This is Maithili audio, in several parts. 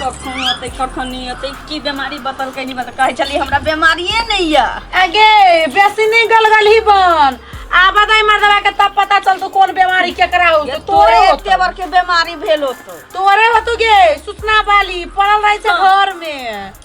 कखन अतै कखन नहि अतै की बेमारी बतलकै नहि बतल कहै छलियै हमरा बेमारिए नहि यऽ आगे बेसी नहीं गलगल ही बन आब दाई मार दबा के तब पता चलतो कौन बीमारी केकरा हो ये तो तोरे तोरे एते होतो बड़के बेमारी भेल होतो तोरे होतो गे सूचना वाली पड़ल रहे छै घर में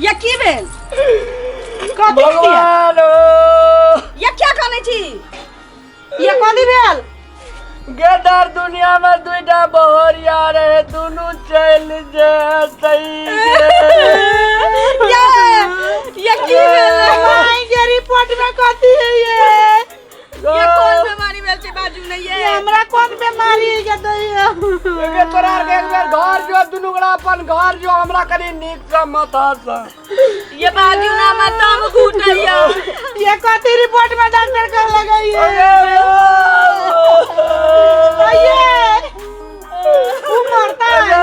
या की भेल कथी छियै? भगवान हो या क्या कहले छी या कथी भेल गेदार दुनिया में दुईटा बहरिया रहे दुनू चल जतई या या की भेल माय के रिपोर्ट में कथी है ये ये कोन बीमारी भेल छै बाजू नै ये हमरा कोन बीमारी के दैयो एबे तोरा आर के एक बेर घर जो दुनू गोरा अपन घर जो हमरा कनी नीक से माथा से ये बाजू ना हमर दम घुटैया ये कथी रिपोर्ट में डॉक्टर कर लगैयो अये उ मरता है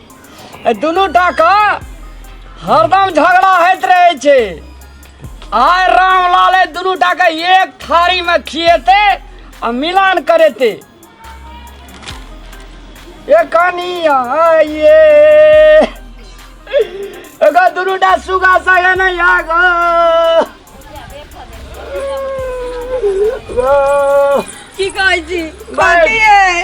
एहि दुनू टाके हरदम झगड़ा होइत रहै छै आइ रामलाल एहि दुनू टाके एक थारीमे खिएतै आ मिलान करेतै ए कनिया ये एगो दुनू टा सुगा सगे नहि आगो की कहै छी बाकी है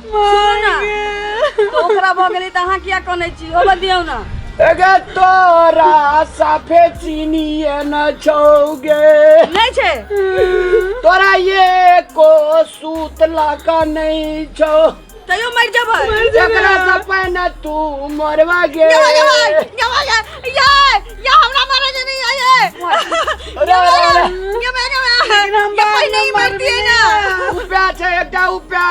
सुनू ना तो ओकरा भऽ गेलै तऽ अहाँ किया कनै छी होबऽ दियौ ना अगे तोरा साफे चीनिए न छौगे नहि छै तोरा ये को सूत लाका नहीं छो तैयो मरि जेबै एकरा से पहिने तू मरवा गे जवान, जवान, जवान, यार, या हमरा मारे जे नहीं आए अरे अरे अरे ये मैं ना हम ये कोई नहीं मरती है ना उपया छै एकटा उपया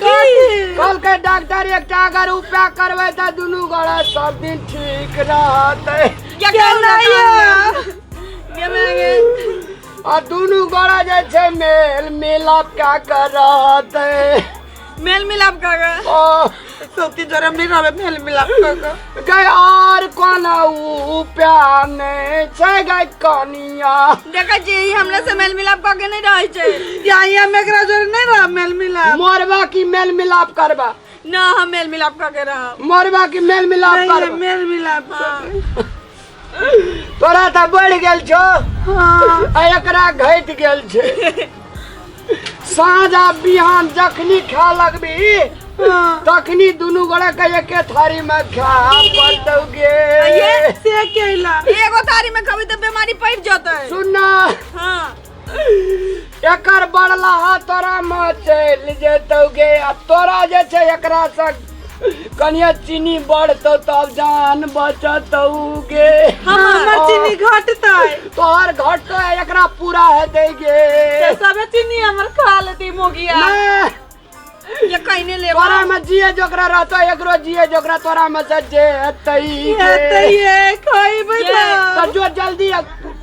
कल के डॉक्टर एकटा अगर उपया करबै त दुनू गोड़ा सब दिन ठीक रहतै ये काम ना ये मैं आ दुनू गोड़ा जे छै मेल मिलाप का कर रहतै मेल मिलाप काका ओ सबके जरम नहीं रहबे मेल मिलाप काका गय और कौन ऊ प्यार नहीं छै गय कनिया देखा जी ई हमरा से मेल मिलाप काके नहीं रहै छै या या में एकरा जोर नहीं रह मेल मिलाप मोरबा की मेल मिलाप करबा ना हम मेल मिलाप काके रहब मोरबा की मेल मिलाप नहीं, करबा मेल मिलाप काका तोरा तऽ बढ़ि गेल छौ हँ आ एकरा घटि गेल छै साँझ आ बिहान जखनी खा लगबी हँ। तखनी दुनू गोरा के एके थारी मे खा पड़तौगे ये से केला एगो थारी में खबी तो बीमारी पड़ जतै सुनना हाँ एकर बड़लाहा तोरा में चलि जेतौ गे आ तोरा जे छै एकरा से कनिया चीनी बढ़तौ तब जान बचतौ गे हमर चीनी घटतै तोहर घटतौ आ एकरा पूरा हेतै गे सबे चीनी हमर खा लेती मोगिया नहि ये कहने ले तोरा में जिए जोकरा रहतो एकरो जिए जोकरा तोरा में से जे हतई हेतै ये खइबै ये। ना तो जो जल्दी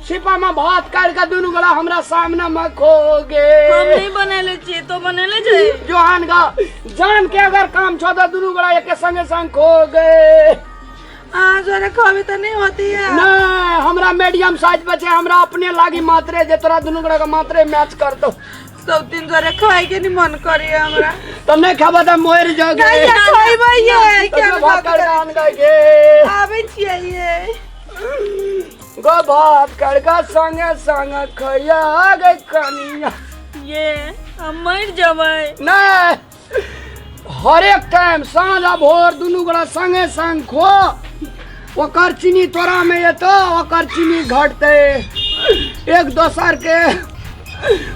छिपा में भात काट के दुनू गोला हमरा सामने में खो हम गे नहीं बनेले छी तो बनेले छै जोहान का जान के अगर काम छो तो दुनू गोला एक संगे संग खो गे अहाँ जोरे खबै तऽ नहि होती है नहीं हमरा मीडियम साइज बचे हमरा अपने लागी मात्रे जे तोरा दुनू गोला के मात्रे मैच कर दो सब दिन धरे खाए के नहीं मन करे हमरा तो नहीं खाबा त मोर जोगे नहीं ये खाइबे ये क्या तो भात कर गान गागे आवे छिए ये गो भात कर का संग संग खया गे कनिया ये हम मर जबै ना हरेक टाइम साँझ आ भोर दुनू गोरा संगे संग खो ओकर चीनी तोरा में एतो ओकर चीनी घटते एक दोसर के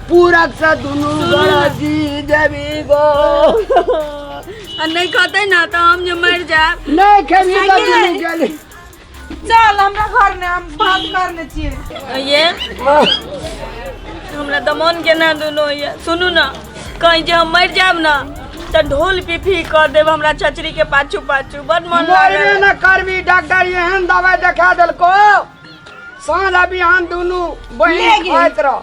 पूरक से दुनू गोरा जी जेबी गो आ नहीं खते ना तो हम जो मर जाए नहीं खेबी तो खाइए। दुनू गेली चल हमरा घर में हम बात कर ले छिए ये हमरा दमन के ना दुनो ये सुनू ना कहीं जे हम मर जाब ना तो ढोल पिफी कर देब हमरा चचरी के पाछू पाछू बड मन मरबे लागल न करबी डॉक्टर एहन दवाई देखा देलको साँझ आ बिहान दुनू बहिन खाइत रह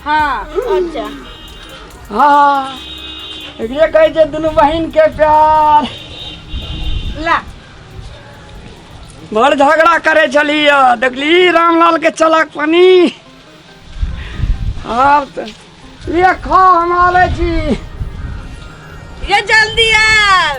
हाँ अच्छा हाँ एकरे कहै छै दुनू बहिन के प्यार ला बड़ झगड़ा करे छली ह देखली रामलाल के चलक पानी आब त ये खा हम आबै छी ये जल्दी आ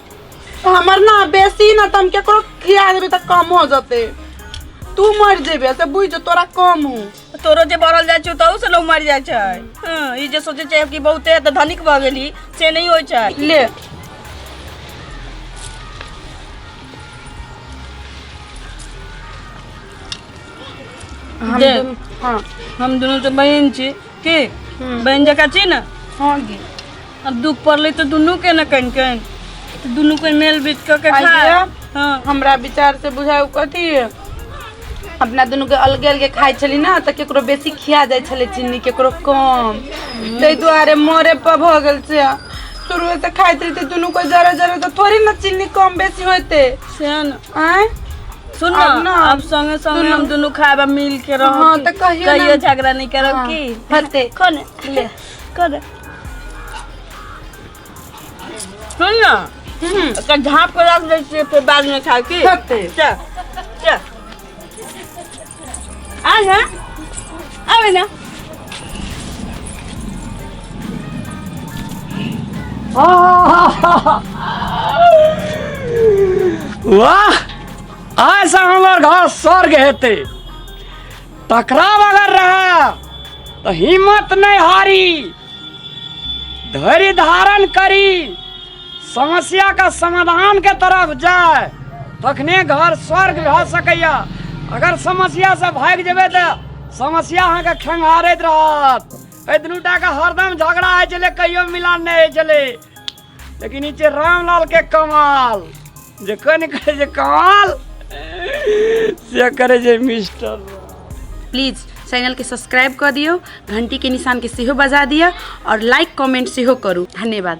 तो हमर ना बेसी ना तम केकरो खिया देबे त कम हो जते तू मर जेबे से बुझ तोरा कम हूँ तोरो जे बढ़ल जाइ छै तहू से लोग मरि जाइ छै हँ, ई जे सोचे छै कि बहुते तऽ धनिक भऽ गेली से नहि होइ छै ले हम दे। दुन- हाँ हम दुनू तऽ बहिन छी की बहिन जकाँ छी ने हाँ गे अब दुख पड़ले तो दुनू के न कन कन तो दुनू के मेल बीत के के आइए। खाए हाँ हमरा विचार से बुझाय उ कथी है? अपना दुनू के अलगे अलगे खाइ छली ना तऽ केकरो बेसी खिया जाइ छलै चीनी केकरो कम ताहि दुआरे मरे पर भऽ गेल से शुरू से खाइत रही तऽ दुनू कोई जरा जरा तऽ थोड़ी ना चीनी कम बेसी होते से है ना आँय सुन ना अब ना, अब संगे संगे दुनू- हम दुनू खाए बा मिल के रहो हाँ, कि? तऽ कहियो ना। कहियो झगड़ा नहीं करब हाँ, की हते। कौन ले कौन सुन ना एकरा झाँप के रख दै छियै फेर बाद में खाए की कते? चल चल आ ना आबे ना वाह ऐसा हमार घर स्वर्ग हेतै टकराव अगर रहा तो हिम्मत नहीं हारी धैर्य धारण करी समस्या का समाधान के तरफ जाए तखने घर स्वर्ग भए सकैया अगर समस्या से भाग जेबे तो समस्या अहाँके खंगारैत रहत एहि दुनूटा के हरदम झगड़ा होइ छलै कहियो मिलान नहि होइ छलै लेकिन ई छै रामलाल के कमाल जे कनि करै छै कमाल से करै छै मिस्टर प्लीज चैनल के सब्सक्राइब कऽ दियौ घंटी के निशान के सेहो बजा दिअ और लाइक कमेंट सेहो करू धन्यवाद